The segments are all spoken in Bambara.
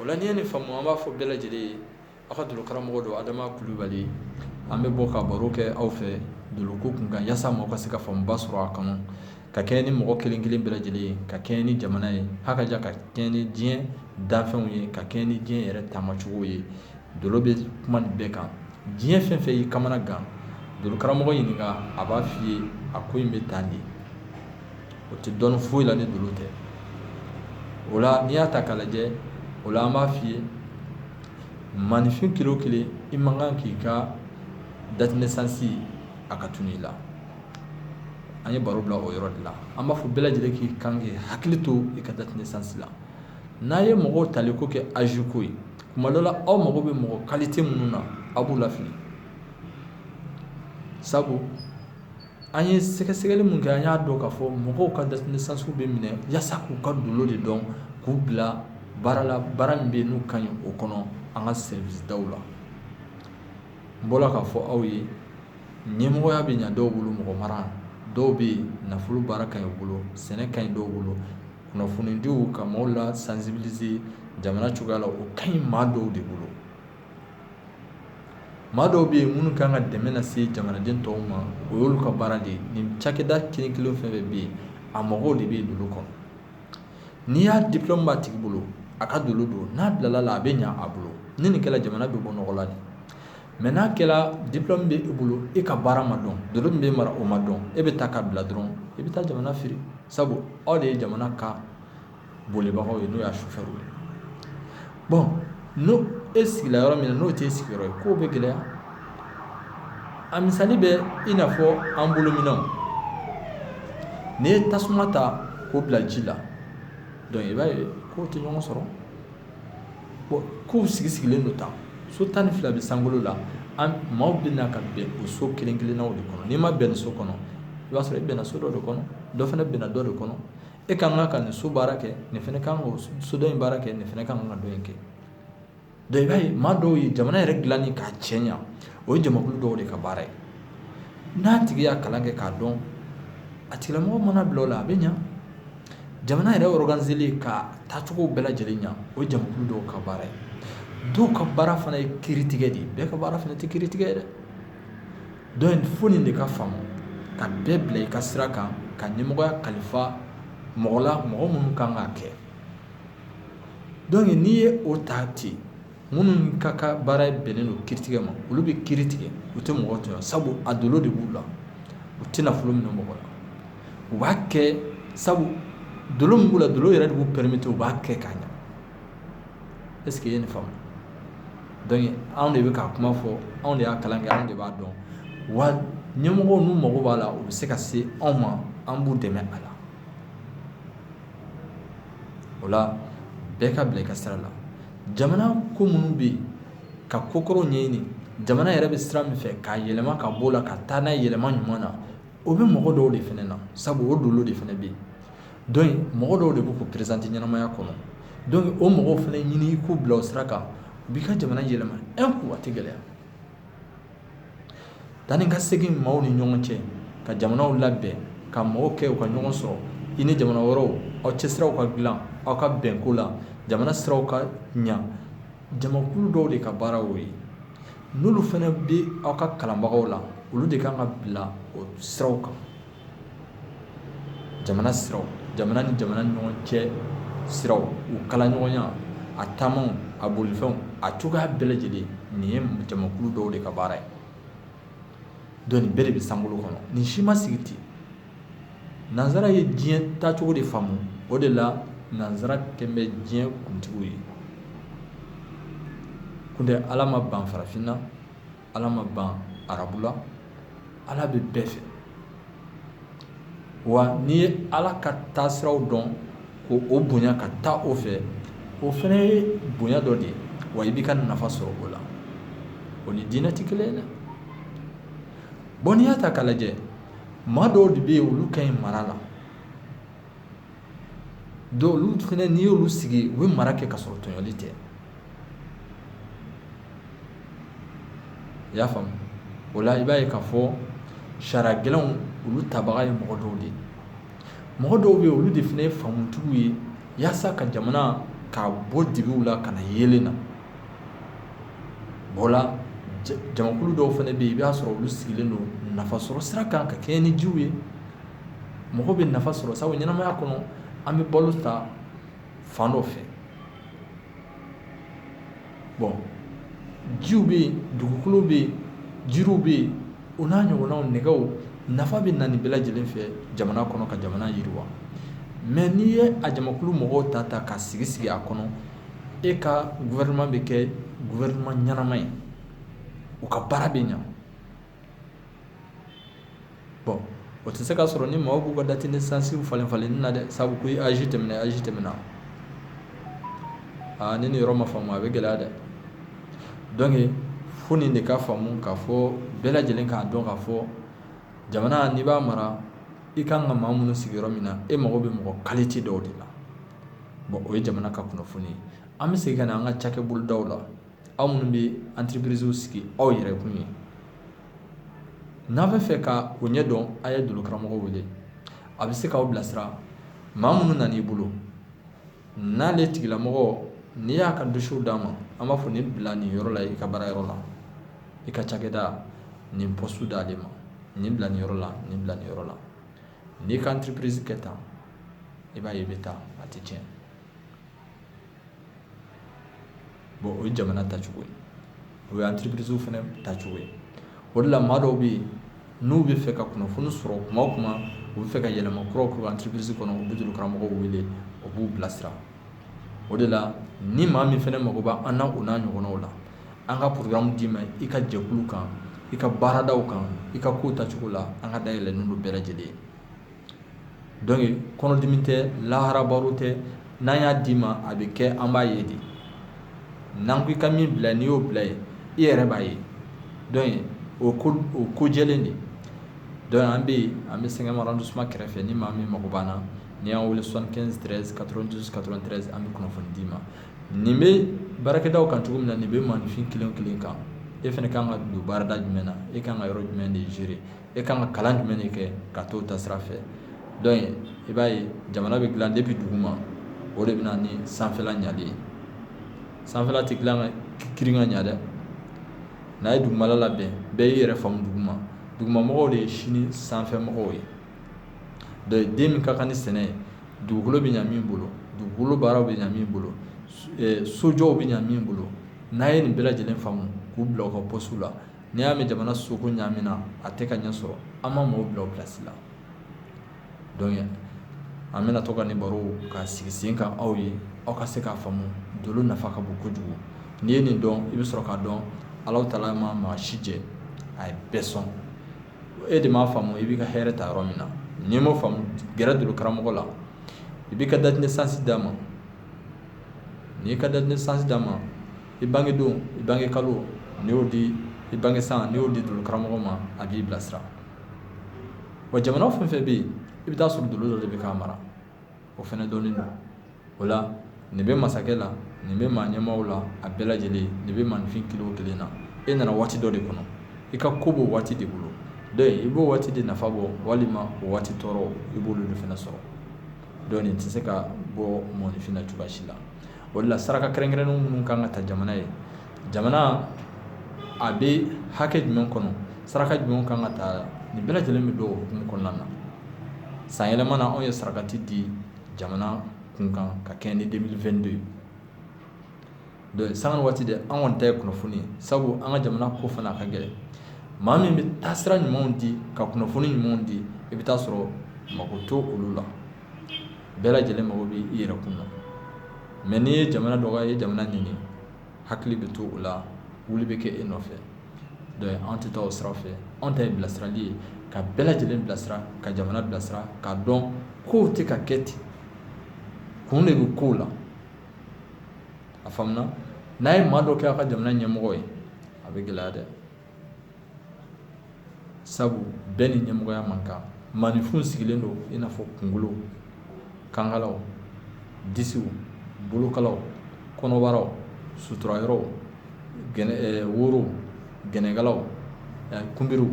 o la n'i ye nin faamu an b'a fɔ bɛɛ lajɛlen ye aw ka dolo karamɔgɔ don adama kulubali an bɛ bɔ ka baro kɛ aw fɛ doloko kun kan yasa maaw ka se ka faamuba sɔrɔ a kɔnɔ ka kɛɲɛ ni mɔgɔ kelen kelen bɛɛ lajɛlen ye ka kɛɲɛ ni jamana ye hakaja ka kɛɲɛ ni diɲɛ danfɛnw ye ka kɛɲɛ ni diɲɛ yɛrɛ taamacogo ye dolo bɛ kuma nin bɛɛ kan diɲɛ fɛn fɛn y'i kamana gan dolo karamɔgɔ ɲininka a b'a f'i ye a ko in bɛ tan de o tɛ dɔn foyi la ni dolo tɛ o la n'i y'a ta k'a lajɛ o la an b'a f'i ye maaninfin kelen o kelen i man kan k'i ka date naissance a ka tunun i la an ye baro bila o yɔrɔ de la an b'a fɔ bɛɛ lajɛlen k'i kan k'i hakili to i ka date naissance la n'a ye mɔgɔw tali ko kɛ âge ko ye tuma dɔ la aw mago bɛ mɔgɔ qualité minnu na aw b'u lafili sabu An ye sɛgɛsɛgɛli min kɛ an y'a dɔn k'a fɔ mɔgɔw ka date naissance bɛ minɛ yasa k'u ka dolo de dɔn k'u bila baara la baara min bɛ yen n'u ka ɲi o kɔnɔ an ka service daw la n bɔra k'a fɔ aw ye ɲɛmɔgɔya bɛ ɲa dɔw bolo mɔgɔ mara dɔw bɛ yen nafolo baara ka ɲi u bolo sɛnɛ ka ɲi dɔw bolo kunnafonidiw ka maaw la sensibiliser jamana cogoya la o ka ɲi maa dɔw de bolo maa dɔw bɛ yen minnu kan ka dɛmɛ lase jamanaden tɔw ma o y'olu ka baara de ye nin cakɛda kelen kelen fɛn fɛn bɛ yen a mɔgɔw de bɛ yen dolo kɔnɔ n'i y'a diplôme b'a tigi bolo a ka dolo don n'a bilala la a bɛ ɲa a bolo ni nin kɛla jamana bɛ bɔ nɔgɔ la de mais n'a kɛla diplôme bɛ e bolo e ka baara ma dɔn dolo min bɛ mara o ma dɔn e bɛ taa k'a bila dɔrɔn i bɛ taa jamana firi sabu aw de ye jamana ka bolibagaw ye n'o y'a chauffeur ye bon n'o e sigila yɔrɔ min na n'o tɛ e sigiyɔrɔ ye kow bɛ gɛlɛya a misali bɛ i n'a fɔ an bolo minɛnw n'i ye tasuma ta k'o bila ji la donc i b'a ye k'o tɛ ɲɔgɔn sɔrɔ bon kow sigi sigilen don tan so tan ni fila bɛ sankolo la an maaw bɛ na ka bɛn o so kelen kelennaw de kɔnɔ n'i ma bɛn nin so kɔnɔ i b'a sɔrɔ i bɛnna so dɔ de kɔnɔ dɔ fana bɛnna dɔ de kɔnɔ e ka kan ka nin so baara kɛ nin fana kan ka so dɔ in baara kɛ nin fana kan ka dɔ in kɛ donc i b'a ye maa dɔw ye jamana yɛrɛ dilanni k'a cɛɲa o ye jamakulu dɔw de ka baara ye n'a tigi y'a kalan kɛ k'a dɔn a tigilamɔgɔ mana bila o la a bɛ ɲa jamana yɛrɛ ɔriganizeli k'a taacogo bɛɛ lajɛlen ɲa o ye jamakulu dɔw ka baara ye dɔw ka baara fana ye kiritigɛ de ye bɛɛ ka baara fana tɛ kiritigɛ ye dɛ donc fo nin de ka faamu ka bɛɛ bila i ka sira kan ka ɲɛmɔgɔya kalifa mɔgɔ la mɔgɔ minnu kan k'a kɛ donc n'i ye o ta ten minnu ka ka baara bɛnnen don kiiritigɛ ma olu bɛ kiiri tigɛ u tɛ mɔgɔ tɔɲɔ sabu a dolo de b'u la u tɛ nafolo minɛ mɔgɔ la u b'a kɛ sabu dolo min b'u la dolo yɛrɛ de b'u permettre u b'a kɛ k'a ɲa est ce que i ye nin faamu donc anw de bɛ ka kuma fɔ anw de y'a kalan kɛ anw de b'a dɔn wa ɲɛmɔgɔw n'u mago b'a la u bɛ se ka se anw ma an b'u dɛmɛ a la o la bɛɛ ka bila i ka sira la jamana ko minnu bɛ yen ka ko kɔrɔw ɲɛɲini jamana yɛrɛ bɛ sira min fɛ k'a yɛlɛma ka bɔ o la ka taa n'a ye yɛlɛma ɲuman na o bɛ mɔgɔ dɔw de fana na sabu o dolo de fana bɛ yen mɔgɔ dɔw de bɛ k'u présenter ɲɛnamaya kɔnɔ donc o mɔgɔw fana ɲini i k'u bila o sira kan u b'i ka jamana yɛlɛma un coup a tɛ gɛlɛya taa ni ka segin maaw ni ɲɔgɔn cɛ ka jamanaw labɛn ka mɔgɔw kɛ u ka ɲɔgɔn sɔrɔ i ni jamana wɛrɛw aw cɛ siraw ka dilan aw ka bɛnko la jamana siraw ka ɲa jamakulu dɔw de ka baara y'o ye n'olu fana bɛ aw ka kalanbagaw la olu de kan ka bila o siraw kan jamana siraw jamana ni jamana ni ɲɔgɔn cɛ siraw u kala ɲɔgɔnya a taamaw a bolifɛnw a cogoya bɛɛ lajɛlen nin ye jamakulu dɔw de ka baara ye donc nin bɛɛ de bɛ sankolo kɔnɔ nin si ma sigi ten nanzara ye diɲɛ taacogo de faamu o de la nanzara kɛlen bɛ diɲɛ kuntigiw ye kuntɛ ala ma ban farafinna ala ma ban arabula ala bɛ bɛɛ fɛ wa n'i ye ala ka taasiraw dɔn ko o bonya ka taa o fɛ o fana ye bonya dɔ de ye wa i b'i ka nafa sɔrɔ o la o ni diinɛ tɛ kelen ye dɛ bon n'i y'a ta k'a lajɛ maa dɔw de bɛ yen olu ka ɲi mara la donc olu fana n'i y'olu sigi u bɛ mara kɛ ka sɔrɔ tɔɲɔli tɛ i y'a faamu o la i b'a ye k'a fɔ sariya gɛlɛnw olu tabaga ye mɔgɔ dɔw de ye mɔgɔ dɔw bɛ yen olu de fana ye faamutigiw ye yaasa ka jamana ka bɔ dibiw la ka na yeelen na o la jamakulu dɔw fana bɛ yen i b'a sɔrɔ olu sigilen don nafasɔrɔ sira kan ka kɛɲɛ ni jiw ye mɔgɔ bɛ nafa sɔrɔ sabu ɲɛnamaya kɔnɔ an bɛ balo ta fan dɔ fɛ bon jiw bɛ yen dugukolo bɛ yen jiriw bɛ yen o n'a ɲɔgɔnnaw nɛgɛw nafa bɛ na nin bɛɛ lajɛlen fɛ jamana kɔnɔ ka jamana yiriwa mais n'i ye a jamakulu mɔgɔw ta ta ka sigi sigi a kɔnɔ e ka gouvernement bɛ kɛ gouvernement ɲɛnama ye u ka baara bɛ ɲa bɔn o tɛ se ka sɔrɔ ni maaw b'u ka date de naissance falen falenli na dɛ sabu ko âge tɛmɛna âge tɛmɛna aa ni nin yɔrɔ ma faamu a bɛ gɛlɛya dɛ donc fo nin de ka faamu k'a fɔ bɛɛ lajɛlen k'a dɔn k'a fɔ jamana n'i b'a mara i kan ka maa minnu sigi yɔrɔ min na e mago bɛ mɔgɔ qualité dɔw de la bɔn o ye jamana ka kunnafoni ye an bɛ segin ka na an ka cakɛbolodaw la aw minnu bɛ entreprisew sigi aw yɛrɛ kun ye n'a bɛ fɛ ka o ɲɛdɔn a ye dolo karamɔgɔw wele a bɛ se k'aw bilasira maa minnu nan'i bolo n'ale tigilamɔgɔ n'i y'a ka dossier d'a ma an b'a fɔ nin bila nin yɔrɔ la i ka baara yɔrɔ la i ka cakɛda nin poste d'ale ma nin bila nin yɔrɔ la nin bila nin yɔrɔ la n'i ka entreprise kɛ tan i b'a ye i bɛ taa a tɛ tiɲɛ o ye jamana tacogo ye o ye entreprisew fana tacogo ye o de la maa dɔw bɛ yen n'u bɛ fɛ ka kunnafoni sɔrɔ kuma o kuma u bɛ fɛ ka yɛlɛma kuraw k'u entreprise kɔnɔ u bɛ dolo karamɔgɔw wele o b'u bilasira o de la ni maa min fana mago b'an na o n'a ɲɔgɔnnaw la an ka programme d'i ma i ka jɛkulu kan i ka baaradaw kan i ka kow tacogo la an ka da yɛlɛlen don bɛɛ lajɛlen ye donc kɔnɔdimi tɛ lahara baro tɛ n'an y'a d'i ma a bɛ kɛ an b'a ye de n'an ko i ka min bila n'i y'o bila yen i yɛrɛ b'a ye donc o o ko jɛlen de donc an bɛ yen an bɛ cinquième arrondissement kɛrɛfɛ ni maa min mako b'an na n'i y'an wele soixante-quinze treize quatre-vingt-douze quatre-vingt-treize an bɛ kunnafoni d'i ma nin bɛ baarakɛda kan cogo min na nin bɛ maaninfin kelen kelen kan e fana ka kan ka don baarada jumɛn na e ka kan ka yɔrɔ jumɛn de gérer e ka kan ka kalan jumɛn de kɛ ka t'o ta sira fɛ donc i b'a ye jamana bɛ dilan depuis dugu ma o de bɛ na ni sanfɛla ɲali ye sanfɛla tɛ dilan kirin ka ɲa dɛ n'a ye dugumala labɛn bɛɛ y'i yɛrɛ faamu dugu ma dugumamɔgɔw de ye sini sanfɛ mɔgɔw ye donc den min ka kan ni sɛnɛ ye dugukolo bɛ ɲa min bolo dugukolo baaraw bɛ ɲa min bolo sojɔw bɛ ɲa min bolo n'a ye nin bɛɛ lajɛlen faamu k'u bila u ka postew la n'i y'a mɛn jamana soko ɲamina a tɛ ka ɲɛ sɔrɔ an ma maaw bila u place la donc an bɛna to ka nin baro ka sigi sen kan aw ye aw ka se k'a faamu dolo nafa ka bon kojugu n'i ye nin dɔn i bɛ sɔrɔ k'a dɔn ala taala ma maa si jɛ a ye bɛɛ sɔn e de m'a faamu i b'i ka hɛrɛ ta yɔrɔ min na n'i m'o faamu gɛrɛ dolo karamɔgɔ la i b'i ka date de naissance d'a ma n'i y'i ka date de naissance d'a ma i bangedon i bange kalo n'i y'o di i bange san n'i y'o di dolo karamɔgɔ ma a b'i bilasira wa jamana fɛn fɛn bɛ yen i bɛ taa sɔrɔ dolo dɔ de bɛ k'a mara o fɛnɛ dɔnnen don o la nin bɛ masakɛ la nin bɛ maa ɲɛmaaw la a bɛɛ lajɛlen nin bɛ maaninfin kelen o kelen na e nana waati dɔ de kɔnɔ i ka ko b'o waati de bolo donc i b'o waati de nafa bɔ walima o waati tɔɔrɔ i b'olu de fana sɔrɔ donc nin tɛ se ka bɔ mɔgɔninfin na cogoya si la o la saraka kɛrɛnkɛrɛnnen minnu kan ka ta jamana ye jamana a bɛ hakɛ jumɛn kɔnɔ saraka jumɛn kan ka ta nin bɛɛ lajɛlen bɛ don o hukumu kɔnɔna na san yɛlɛma na anw ye sarakati di jamana kunkan ka kɛɲɛ ni 2022 ye donc san waati de an kɔni ta ye kunnafoni ye sabu an ka jamana ko fana ka gɛlɛn maa min bɛ taasira ɲumanw di ka kunnafoni ɲumanw di i bɛ taa sɔrɔ mako to olu la bɛɛ lajɛlen mago bɛ i yɛrɛ kun na mais n'i ye jamana dɔgɔya i ye jamana ɲini hakili bɛ to o la wuli bɛ kɛ e nɔfɛ donc an tɛ taa o sira fɛ anw ta ye bilasirali ye ka bɛɛ lajɛlen bilasira ka jamana bilasira k'a dɔn kow tɛ ka kɛ ten kun de bɛ kow la a faamuna n'a ye maa dɔ kɛ a ka jamana ɲɛmɔgɔ ye a bɛ gɛlɛya dɛ Sabu bɛɛ ni ɲɛmɔgɔya man kan maaninfin sigilen don i n'a fɔ kunkolow kankalaw disiw bolokalaw kɔnɔbaraw suturayɔrɔw worow gɛnɛkalaw kunbiriw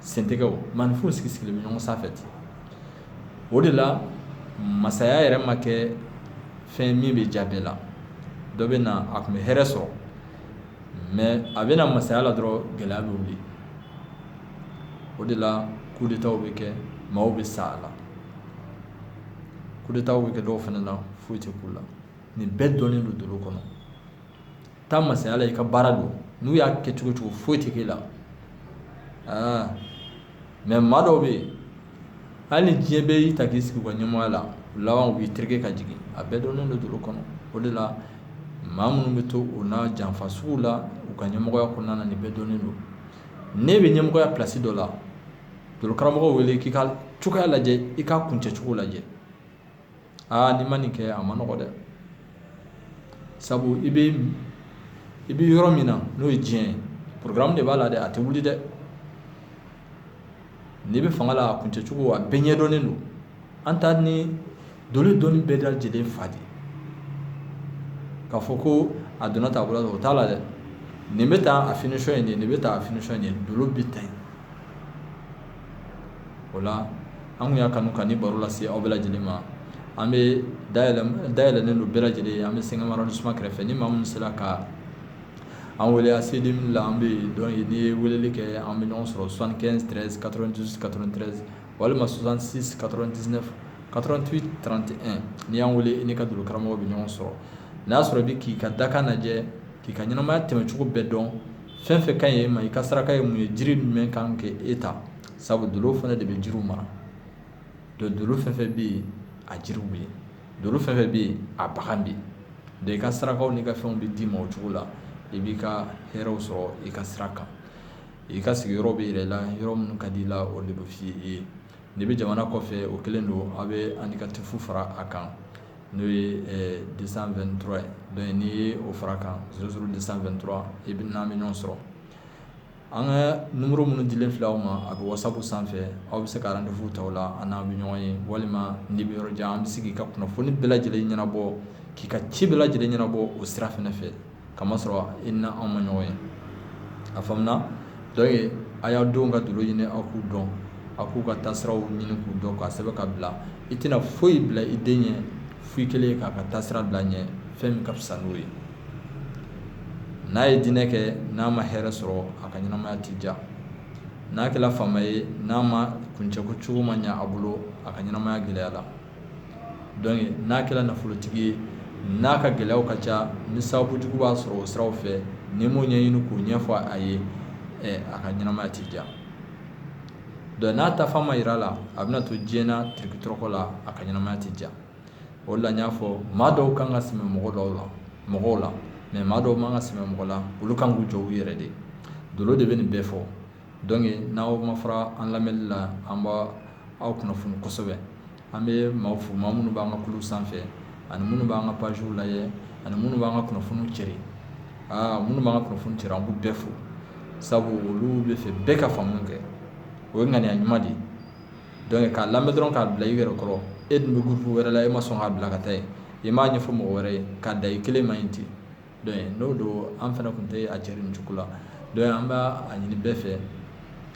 sentɛgɛw maaninfin sigi sigilen bɛ ɲɔgɔn sanfɛ ten o de la masaya yɛrɛ ma kɛ fɛn min bɛ diya bɛɛ la dɔ bɛ na a tun bɛ hɛrɛ sɔrɔ mais a bɛ na masaya la dɔrɔn gɛlɛya bɛ wuli o de la kudetaw bɛ kɛ maaw bɛ sa a la kudetaw bɛ kɛ dɔw fana na foyi tɛ k'u la nin bɛɛ dɔnnen don dolo kɔnɔ taa masaya la i ka baara don n'u y'a kɛ cogo cogo foyi tɛ k'e la aa mais maa dɔw bɛ yen hali diɲɛ bɛɛ y'i ta k'i sigi u ka ɲɛmɔgɔya la laban u b'i tereke ka jigin a bɛɛ dɔnnen don dolo kɔnɔ o de la maa minnu bɛ to u na janfa sugu la u ka ɲɛmɔgɔya kɔnɔna na nin bɛɛ dɔnnen don n'e bɛ ɲɛmɔgɔya plasi dɔ la dolo karamɔgɔ wele k'i ka cogoya lajɛ i ka kuncɛcogo lajɛ aa n'i ma nin kɛ a ma nɔgɔ dɛ sabu i bɛ i bɛ yɔrɔ min na n'o ye diɲɛ ye porogaramu de b'a la dɛ a tɛ wuli dɛ n'i bɛ fanga la a kuncɛcogo a bɛɛ ɲɛdɔnnen don an ta nin dolo dɔnni bɛɛ dalajɛlen fa de k'a fɔ ko a donna ta bolo o t'a la dɛ nin bɛ taa a finisɔn in de nin bɛ taa a finisɔn in de dolo bɛ taa yen o la an y'a kanu ka ni baro lase aw bɛɛ lajɛlen ma an bɛ day yɛlɛ ni don bɛɛ lajɛlen an bɛ sɛgɛnma ni suma kɛrɛfɛ ni maa min sera ka an wele a seden min la an bɛ dɔn ye n'i ye weleli kɛ an bɛ ɲɔgɔn sɔrɔ san kɛnɛn katerɛn walima sonsansi katɛn tɛsi katrɛnti trante n'i y'an wele n'i ka don karamɔgɔ bɛ ɲɔgɔn sɔrɔ n'a y'a sɔrɔ bɛ k'i ka dakan lajɛ k'i ka ɲɛnaɛnɛmaya tɛmɛcogo bɛɛ dɔn fɛn fɛn ka ɲi e ma i ka saraka ye mun ye jiri jumɛn kan kɛ e ta sabu dolo fana de bɛ jiriw mara donc dolo fɛn fɛn bɛ yen a jiriw bɛ yen dolo fɛn fɛn bɛ yen a bagan bɛ yen donc i ka sarakaw n'i ka fɛnw bɛ d'i ma o cogo la i b'i ka hɛrɛw sɔrɔ i ka sira kan i ka sigiyɔrɔ bɛ yir'i la yɔrɔ minnu ka di i la o de bɛ f'i ye n'i bɛ jamana kɔfɛ o kelen don aw bɛ indicatif fara a kan n'o ye deux cent vingt-trois ye donc n'i ye o fara kan zéro zéro deux cent vingt-trois i bɛ n'an bɛ ɲɔgɔn sɔrɔ an ka numéro minnu dilen filɛ aw ma a bɛ whatsapp sanfɛ aw bɛ se ka rendez-vous ta o la aw n'an bɛ ɲɔgɔn ye walima n'i bɛ yɔrɔ jan an bɛ se k'i ka kunnafoni bɛɛ lajɛlen ɲɛnabɔ k'i ka ci bɛɛ lajɛlen ɲɛnabɔ o sira fana fɛ k'a masɔrɔ i ni anw ma ɲɔgɔn ye a faamuna donc a y'aw denw ka dolo ɲini aw k'u dɔn aw k'u ka taasiraw ɲini k'u dɔn k'a sɛbɛn ka bila i tɛna foyi bila i den ɲɛ foyi kelen k'a ka taasira bila ɲɛ fɛn min ka fisa n'o ye n'a ye diinɛ kɛ n'a ma hɛrɛ sɔrɔ a ka ɲɛnamaya tɛ diya n'a kɛra faama ye n'a ma kuncɛko cogo ma ɲɛ a bolo a ka ɲɛnamaya gɛlɛyala donc n'a kɛra nafolotigi ye n'a ka gɛlɛyaw ka ca ni sababujugu b'a sɔrɔ o siraw fɛ n'i m'o ɲɛɲini k'o ɲɛfɔ a ye a ka ɲɛnamaya tɛ diya donc n'a taafan ma yira a la a bɛna to diɲɛ na tirikitɔrɔkɔ la a ka ɲɛnamaya tɛ diya o la n y'a fɔ maa dɔw kan ka sɛmɛ mɔ mɔgɔw la mais maa dɔw man ka sɛmɛ mɔgɔ la olu kan k'u jɔ u yɛrɛ de dolo de bɛ nin bɛɛ fɔ donc n'aw ma fara an lamɛnni la an b'aw kunnafoni kosɛbɛ an bɛ maaw fo maa minnu b'an ka kulu sanfɛ ani minnu b'an ka pagew lajɛ ani minnu b'an ka kunnafoniw cɛri aa minnu b'an ka kunnafoni cɛri an b'u bɛɛ fo sabu olu bɛ fɛ bɛɛ ka faamu kɛ o ye ŋaniya ɲuman de ye donc k'a lamɛn dɔrɔn k'a bila i yɛrɛ kɔrɔ e dun bɛ gurupu wɛrɛ la e ma sɔn k'a bila ka taa yen i m'a ɲɛfɔ mɔgɔ wɛrɛ ye k'a da i kelen ma yen ten donc n'o don an fana tun tɛ a cɛri nin cogo la donc an b'a ɲini bɛɛ fɛ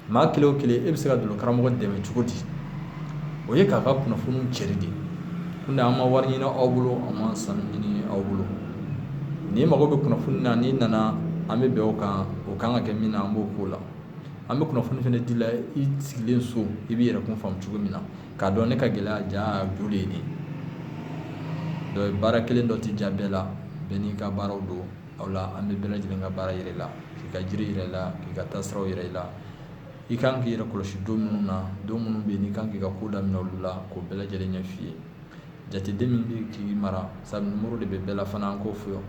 maa kelen o kelen e bɛ se ka dolo karamɔgɔ dɛmɛ cogo di o ye k'a ka kunnafoniw cɛri de ye ko an ma wari ɲini aw bolo an ma sanu ɲini aw bolo n'i mago bɛ kunnafoni na n'i nana an bɛ bɛn o kan o kan ka kɛ min na an b'o k'o la an bɛ kunnafoni fana di la i sigilen so i b'i yɛrɛ kun faamu cogo min na k'a dɔn ne ka gɛlɛya jujɔn de ye nin ye baara kelen dɔ tɛ ja bɛɛ la bɛɛ n'i ka baaraw don o la an bɛ bɛɛ lajɛlen ka baara yira a la k'i ka jiri yira i la k'i ka taasiraw yira i la i ka kan k'i yɛrɛ kɔlɔsi don minnu na don minnu bɛ yen i kan k'i ka ko daminɛ olu la k'o bɛɛ lajɛlen ɲɛf'i ye jateden min bɛ k'i mara sabu nimoro de bɛ bɛɛ la fana an k'o fɔ yan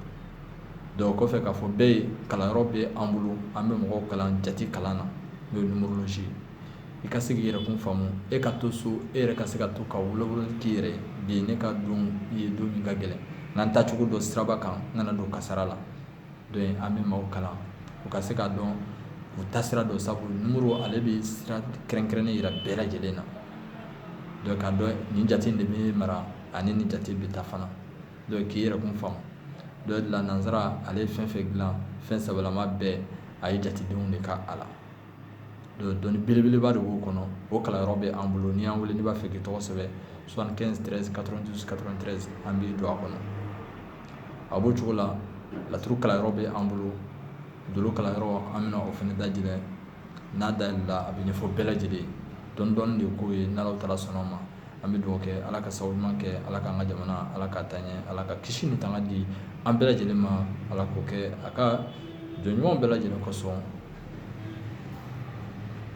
donc kɔfɛ k'a fɔ bɛɛ ye kalanyɔrɔ bɛ an bolo an bɛ mɔgɔw kalan jate kalan na n'o ye ye i ka se k'i yɛrɛ kun faamu e ka to so e yɛrɛ ka se ka to ka wolowolo k'i yɛrɛ de ye ne ka don ye don min ka gɛlɛn n'an taacogo dɔn siraba kan n kana don kasara la donc an bɛ maaw kalan u ka se k'a dɔn u taasira dɔn sabu nimoro ale bɛ sira kɛrɛnkɛrɛnnen jira bɛɛ lajɛlen na donc k'a dɔn nin jate de bɛ mara ani nin jate bɛ taa fana donc k'i yɛrɛ kun faamu donc de la nansara ale ye fɛn fɛn dilan fɛn sabalama bɛɛ a ye jatedenw de kɛ a la dɔnni belebeleba de b'o kɔnɔ o kalanyɔrɔ bɛ an bolo n'i y'an wele n'i b'a fɛ k'i tɔgɔ sɛbɛn an b'i don a kɔnɔ a b'o cogo la laturu kalanyɔrɔ bɛ an bolo dolo kalanyɔrɔ an bɛna o fana dayɛlɛ n'a dayɛlɛla a bɛ ɲɛfɔ bɛɛ lajɛlen dɔɔni dɔɔni de ko ye n'ala taala sɔnna ma an bɛ dugawu kɛ ala ka sababu ɲuman kɛ ala k'an ka jamana ala k'a taa ɲɛ ala ka kisi ni tanga di an bɛɛ lajɛlen ma ala k'o kɛ a ka jɔn ɲumanw bɛɛ lajɛlen kosɔn